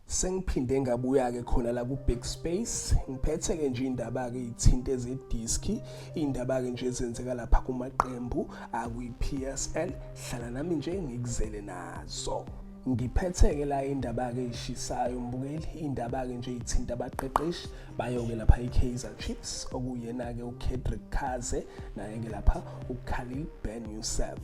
Sengiphinde ngabuya-ke khona la ku-backspace ngiphethe-ke nje iy'ndaba-ke iy'thinta ezediski iy'ndaba-ke nje ezenzeka lapha kumaqembu akwi-p s l hlala nami nje ngikuzele nazo ngiphethe-ke la indaba-ke eyishisayo mbukeli indaba-ke nje ithinta abaqeqeshi bayoke lapha i-kaizer chiefs okuyena-ke ukedrick kaze naye-ke lapha ukhalil ben yusef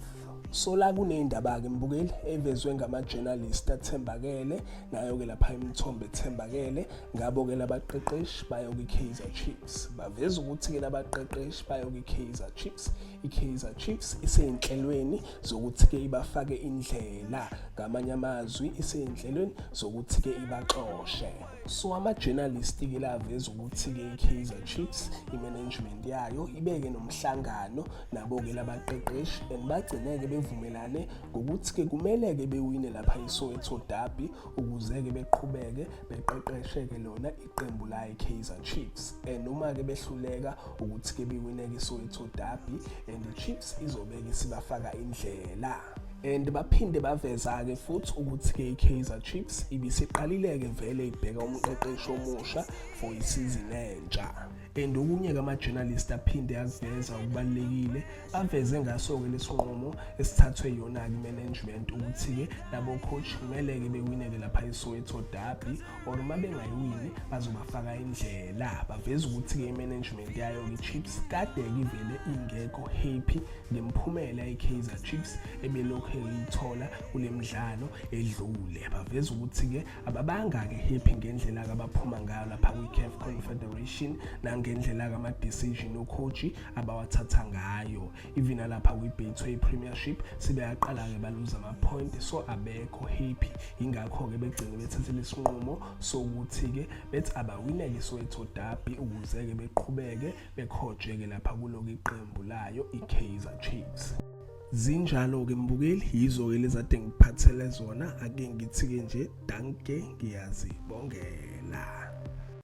sola kuneyindaba-ke mbukeli evezwe ngama-journalist athembakele nayo-ke lapha imithombo ethembakele ngabo-ke labaqeqeshi bayo kwi-kaizer chiefs baveza ukuthi-ke labaqeqeshi bayo kwi-kaizer chiefs i-kaizer chiefs iseyinhlelweni zokuthi-ke ibafake indlela ngamanye amazwi iseyinhlelweni zokuthi-ke ibaxoshe so ama-journalist-ke laveza ukuthi-ke i-kaizer chiefs i-management yayo ibeke nomhlangano nabo-ke labaqeqeshi and bagcine-ke bevumelane ngokuthi-ke kumele-ke bewine lapha isoweto derby ukuze-ke beqhubeke beqeqeshe-ke lona iqembu laye kaizer chiefs and uma-ke behluleka ukuthi-ke biwineke isoweto derby and ichiefs izobeke isibafaka indlela and baphinde baveza-ke futhi ukuthi-ke i-kaizer chiefs ibisiqalile-ke vele ibheka umqeqeshi omusha for isizini entsha and okunye kama-journalist aphinde aziveza okubalulekile aveze ngaso-ke lesinqumo esithathwe yona-ke i-management ukuthi-ke nabo-coach kumele-ke bewineke lapha esoweto derby or uma bengayiwini bazobafaka indlela baveza ukuthi-ke i-management yayo-ke i-chips kade-ke ivele ingekho happy ngemphumela i-kaizer chips ebelokhu eyithola kule mdlalo edlule baveza ukuthi-ke ababangaki happy ngendlela abaphuma ngayo lapha kwi-caf confederation nangendlela kama-decision okhoji abawathatha ngayo even alapha kwi-betway premiership sebeyaqala-ke baluza ama-point so abekho happy yingakho-ke begcine bethathele isinqumo sokuthi-ke bethi abawineke isoweto dabi ukuze-ke beqhubeke bekhojeke lapha kuloku iqembu layo i-kaizer chiefs zinjalo-ke mbukeli yizo-ke lezade ngiphathele zona ake ngithi-ke nje danke ngiyazibongela